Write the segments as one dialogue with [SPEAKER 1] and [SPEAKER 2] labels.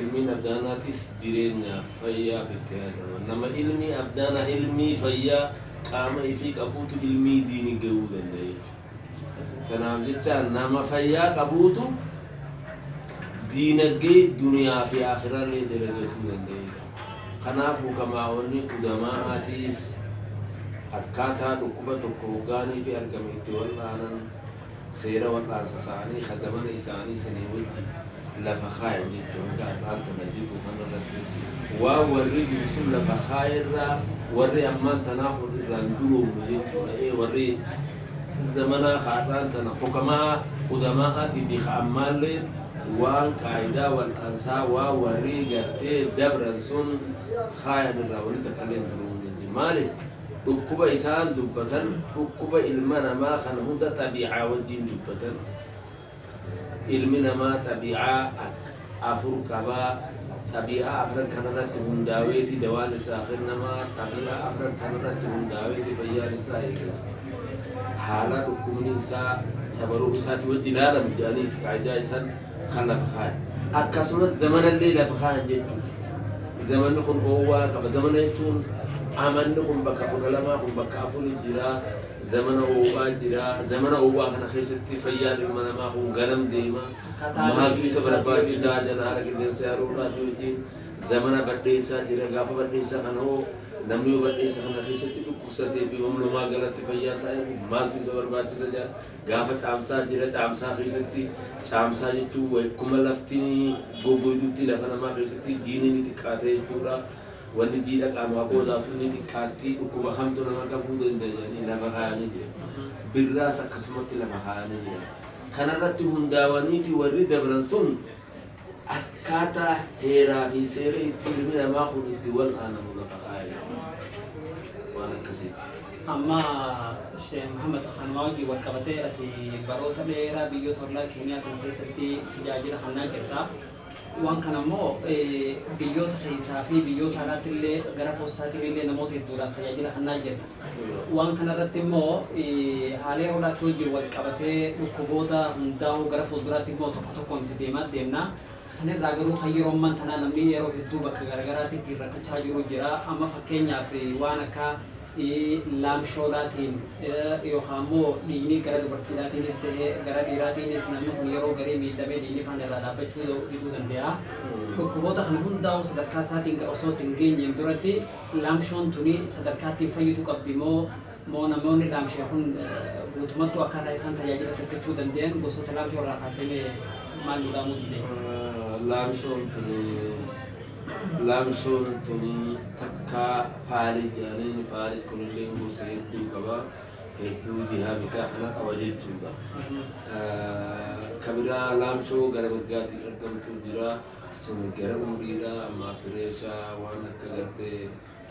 [SPEAKER 1] Ilmiin Abdaanaatis jireenyaaf, fayyaaf itti yaadama. Nama ilmii Abdaanaa, ilmii fayyaa qaama ifii qabuutu ilmii diini gayuu danda'a jechuudha. Tanaaf jecha nama fayyaa qabuutu diinaggee duniyaa fi aakhiraallee dalagatuu danda'a jechuudha. Kanaaf hukamaa'onni qudamaa'aatiis akkaataa dhukkuba tokko hoggaanii fi argame itti wal'aanan, Seera warraansa saanii ka zamana isaanii sanii wajji lafa kaayan jechuu hanga ar'aan tana jirru kana irratti waan warri dur sun lafa kaaye irraa warri ammaan tanaa kun irraan duroomnu jechuu dha ee warri zamanaa ka ar'aan tana hukama'aa qudamaa'aatii fi ka ammaalleen waan qaayidaa wal'aansaa waan warri gartee dabran sun kaayan irraa wanni takkalleen duroomuu hin dandeenye maalif Dhukkuba isaan dubbatan dhukkuba ilma namaa kana hunda xabii'aa wajjiin dubbatan. Ilmi namaa xabii'aa akka afur qaba. Xabii'aa afran kana irratti hundaaweeti dawaan isaa kennama. Xabii'aa afran kana irratti hundaaweeti fayyaan isaa eegama. Haala dhukkubni isaa tabaru'u isaati wajji laalama jedhaniiti qaayidaa isaan. kan lafa kaayan. Akkasumas zamanallee lafa kaayan jechuuti. Zamanni kun oowwaa qaba. Zamana jechuun amanni kun bakka 12, kun bakka 4 jira. Zamana oowwaa jira. Zamana oowwaa kana keessatti fayyaan ilma namaa kun ganam deema. Maaltu isa barbaachisaa jira haala qilleensa yeroo dhaatii wajjin. Zamana badheessaa jira. Gaafa badheessaa kana hoo namni yoo badheessa kana keessatti dhukkubsatee fi humna uumaa galatti fayyaa isaa eeguuf maaltu isa barbaachisa jira. Gaafa Caamsaa, Ji'a Caamsaa keessatti, Caamsaa jechuun waykuma lafti goggoydutti lafa namaa keessatti jiini ni xiqqaata jechuudha. Wanni jiidha qaamaa qoodaatuu ni xiqqaatti. Dhukkuba kamtu nama qabuu danda'a jedhanii lafa kaayanii jiran. Birraas akkasumatti lafa kaayanii jiran. Kanarratti hundaawaniiti warri dabran sun. akkaataa heeraa fi seera itti ilmi namaa kun itti wal'aanamu lafa kaa'e waan akkasiiti. Amma
[SPEAKER 2] Sheikh Muhammad kanuma wajjin wal qabatee ati baroota dheeraa biyyoota ollaa keenyaa kana keessatti tajaajila kennaa jirta. Waan kana immoo biyyoota keessaa fi biyyoota alaatti illee gara poostaatiin illee namoota hedduudhaaf tajaajila kennaa jirta. Waan kana irratti immoo haalee horaati wajjin wal qabatee dhukkuboota hundaa'uu gara fuulduraatti immoo tokko tokkoon itti deemaa deemna. San irraa garuu kan yeroo amman tanaa namni yeroo hedduu bakka garagaraatti ittiin rakkachaa jiruu jira. Amma fakkeenyaaf waan akka laamshoolaatiin yookaan immoo dhiigni gara dubartiidhaatiinis ta'ee gara dhiiraatiinis namni kun yeroo garii miidhamee dhiigni faan irraa dhaabbachuu diduu danda'a. Dhukkuboota kana hundaa'uu sadarkaa isaatiin osoo itti hin geenyeen duratti Laamshoon tuni sadarkaa ittiin fayyitu qabdi moo moo namoonni laamshee kun guutumattuu akkaataa isaan tajaajila takkachuu dandayan gosoota laamshoo irraa kaasee mee maal nu dhaamuu dandeessa? Laamshoon tuni laamshoon tuni takka faalii jedhaniin faalis kunilleen gosa hedduu qaba hedduu jihaa bitaa kana qaba jechuudha. Ka biraa laamshoo gara mirgaatiin argamtu jira. Sin gara umriidha ammaa pireesha waan akka gartee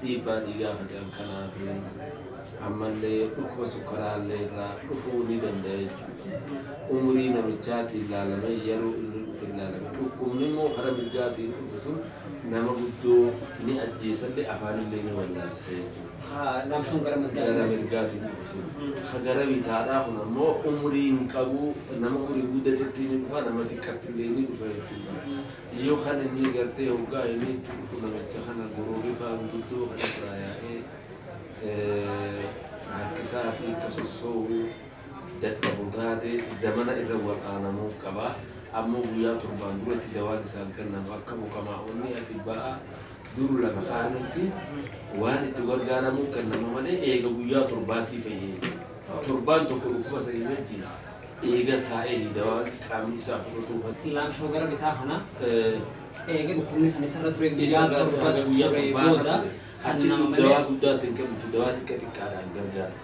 [SPEAKER 2] dhiibbaa dhiigaa ka jedhan kanaa fi ammallee dhukkuba sukkaraallee irraa dhufuu ni danda'a jechuudha. Umrii namichaatiin laalamee yeroo inni dhufe laalame. Dhukkubni immoo kara mirgaatiin dhufu sun nama guddoo ni ajjeesallee afaanillee ni wallaalchisa jechuudha. ha laamshoon gara mirgaatiin gara dhufu. mirgaatiin dhufu
[SPEAKER 1] sun ha gara bitaadhaa kun ammoo umrii hin qabu nama umrii guddatetti ni dhufa nama xiqqatti illee ni dhufa jechuudha yoo kan inni gartee hoggaa inni itti dhufu namicha kana goroorii faan guddoo kan irraa yaa'ee eh, harkisaatii akka sossoohu dadhabu taate zamana irra wal'aanamuuf qaba ammoo guyyaa torbaan duratti dawaan isaaf kennamu akka mukamaa onni ati ba'a Dur lafa kaa'anitti waan itti gargaaramuun kennama malee eega guyyaa torbaatii fayya jechuudha. Torbaan tokko dhukkuba sanii wajjiin eega taa'eeyi dawaan qaamni isaa fudhatuu kan. Laamshoo gara bitaa
[SPEAKER 2] kana eega dhukkubni san isarra turee guyyaa torba turee booda kennama malee. Achitti dawaa
[SPEAKER 1] guddaa itti hin kenntu, dawaa xiqqa xiqqaadhaan gargaarta.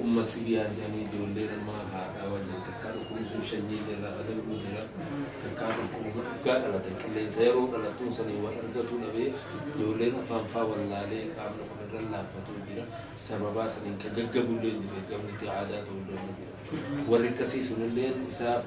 [SPEAKER 1] Umma sirii argani ijoollee namaa haadhaa wajjin takkaa dhukkubni sun shanyii jalaa badal'uu jira takkaa dhukkubuma dhugaa dhalatan qilleensa yeroo dhalattuun saniin wal argatuu dhabee ijoolleen afaan faa wallaalee qaamni kun irran laaffatuu jira sababaa saniin ka gaggabulleen jira gamnitti aadaa ta'ulleen ni jira warri akkasii sunilleen isaaf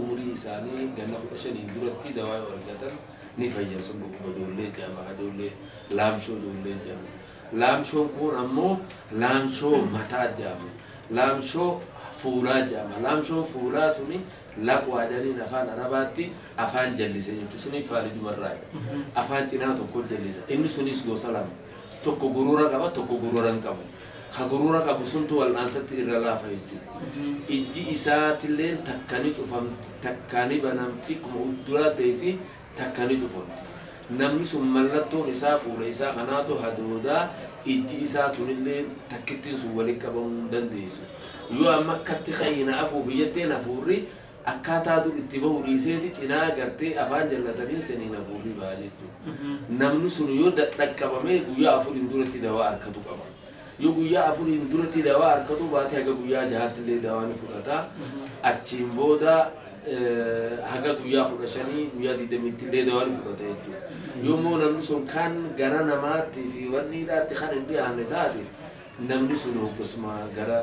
[SPEAKER 1] umrii isaanii ganna kudha shaniin duratti dawaa yoo argatan ni fayyan sun dhukkuba ijoollee jedhama ijoollee laamshoo ijoollee jedhama Laamshoon kuun ammoo laamshoo mataa jedhama. Laamshoo fuulaa jedhama. Laamshoon fuulaa suni laqwaa jedhaniin afaan Arabaatti afaan jallise jechu. Suni faalijumarraayi. Afaan cinaa tokko jallisa. Inni sunis gosa lama. Tokko gurura qaba, tokko gurura hin qabu. Ka gurura qabu suntu wal'aansatti irra laafa jechu. Ijji isaatilleen takka ni cufamti, takka ni banamti, akkuma udduraa teessi, takka ni tufamti. Namni sun mallattoon isaa fuula isaa kanaatu hadooda, ijji isaa tunillee takkittiin sun walitti qabamuu hin dandeessu. Yoo amma akkatti ka'ii na afuufi jetteen hafuurri akkaataa dur itti bahu dhiiseeti cinaa gartee afaan jallataniin saniin hafuurri baha jechuudha. Namni sun yoo dadhaqqabame guyyaa afuriin duratti dawaa arkatu qaba. Yoo guyyaa afuriin duratti dawaa arkatuu baate haga guyyaa jahaatti illee dawaa ni fudhata. Achiin booda haga guyyaa kudha shanii guyyaa digdamiitti illee dawaa ni fudhata jechuudha. Yoommoo namni sun kan gara namaatti fi wanniidhaatti kan hin dhiyaanne taate namni sun hoggasuma gara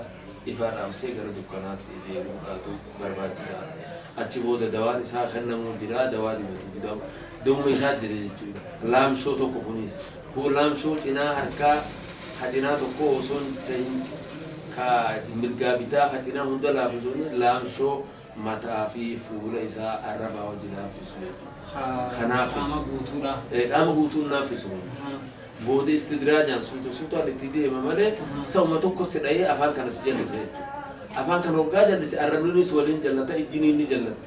[SPEAKER 1] ifaa dhaamsee gara dukkanaatti ifee godhaatu barbaachisaadha. Achi booda dawaan isaa kennamuu jira dawaa dibatu dawuma isaa jira jechuudha. Laamshoo tokko kunis. Goolaamsoo cinaa harkaa ka cinaa tokkoo osoo hin tahin ka mirgaa bitaa ka cinaa hunda laafu osoo hin tahin laamshoo mataa fi fuula isaa arrabaa wajji laamfisu jechu. Ka qaama guutuu dha. Qaama guutuu hin laamfisu kun. Booda istidraajaan suuta suutaan itti deema malee sa'uma tokko si dhayee afaan kana si jallisa jechu. Afaan kana hoggaa jallise arrabninis waliin jallata ijjiniin ni jallatti.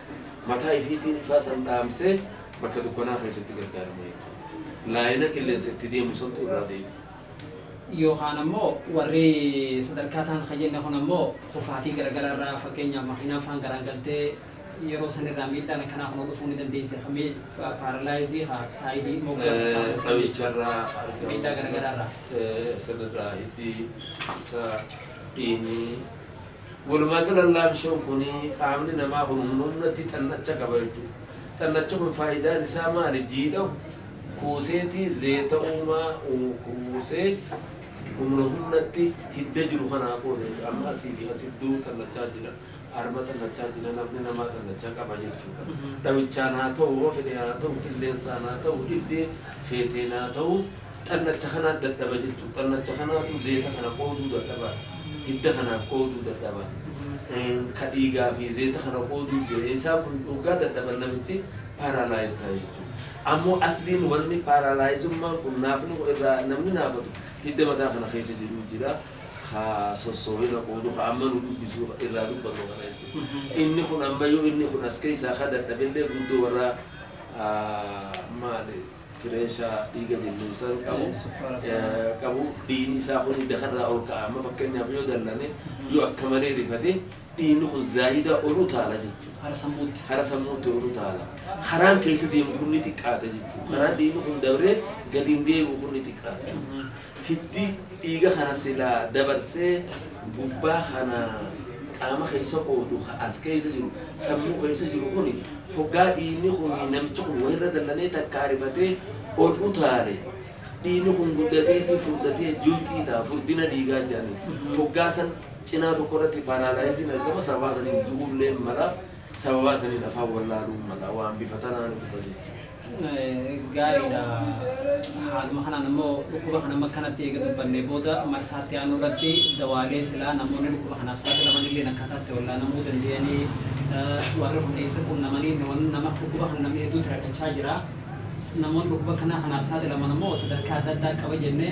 [SPEAKER 1] Mataa ifiitiin ifaa san dhaamsee bakka dukkanaa keessatti gargaarama jechuudha. Laayina qilleensa itti deemu santu irraa deebi'a.
[SPEAKER 2] Yookaan ammoo warri sadarkaa taan kan jenne kun ammoo kufaatii garagaraa irraa fakkeenyaaf makiinaan faan garaangaltee yeroo san irraa miidhaan akkanaa kun dhufuu ni dandeessi. Kan miidhaa paaralaayizii haa saayidii moggaa takkaa kan dhufuu Dhamicha
[SPEAKER 1] irraa kan argamu. Miidhaa garagaraa
[SPEAKER 2] irraa. San irraa
[SPEAKER 1] hiddii, isaa, dhiigni. Walumaagalan laamshoon kun qaamni namaa kun humna humnatti xannacha qaba jechuudha. Xannachi kun faayidaan isaa maali? Jiidhahu kuuseeti zeeta uumaa kuusee humna humnatti hidda jiru kanaa qooda jechuudha. Amma asii fi as iddoo xannachaa jira. Harma xannachaa jira. Namni namaa xannacha qaba jechuudha. Dhawichaan haa ta'u, homa fedhe haa ta'u, qilleensaan haa ta'u, dhibdee feeteen haa ta'u. Xannacha kanaa dadhaba jechuudha. Xannacha kanaatu zeeta kana qooduu dadhaba. Hidda kanaaf qooduu dadhaba. Ka dhiigaa fi zeeta kana qooduu jira. Isaa kun hoggaa dadhaban namichi paralyze ta'a jechuudha. Ammoo asliin wanni paralyzummaan kun naafni kun irraa namni naafatu hidda mataa kana keessa jiru jira. Ka sossoowina qoodu ka amma nu dubbisu irraa dubbatu kana jechuudha. Inni kun ammayyuu inni kun as keessaa ka dadhabe illee guddoo warra maali. Kireessaa dhiiga jallinsaa hin qabu. Ee, sukkaara Eh, qabu. qabu dhiigni isaa kun dakarraa ol ka'a amma fakkeenyaaf yoo dallane yoo akka malee rifate dhiigni kun zaayidaa ol utaala jechuudha Hara sammuutti. hara sammuutti ol utaala haraan keessa deemu kun ni xiqqaata jechuudha karaan dhiigni kun dabree gadi hin deebi'u kun ni xiqqaata Hiddi dhiiga kana silaa dabarsee gubbaa kana qaama keessa qoodu ka as keessa jiru, sammuu keessa jiru kuni hoggaa dhiigni kuni namichi kun wahirra dallanee takkaa rifatee ol utaale dhiigni kun guddateeti furdatee julxii ta'a furdina dhiigaa jedhaniin. Hoggaa san cinaa tokko irratti paralyze'n argama sababaa saniin du'ulleen mala sababaa saniin afaan wallaaluun mala waan bifa tanaan dhufa jechuudha. gaariidha.
[SPEAKER 2] Haaluma kanaan immoo dhukkuba kana amma kanatti eega dubbannee booda marsaatti aanu irratti dawaalee silaa namoonni dhukkuba kanaaf saaxilaman illee akkaataa itti wallaanamuu danda'anii warri kun eessa qunnamanii nama dhukkuba kana namni hedduutti rakkachaa jira. Namoonni dhukkuba kanaa kanaaf saaxilaman immoo sadarkaa adda addaa qaba jennee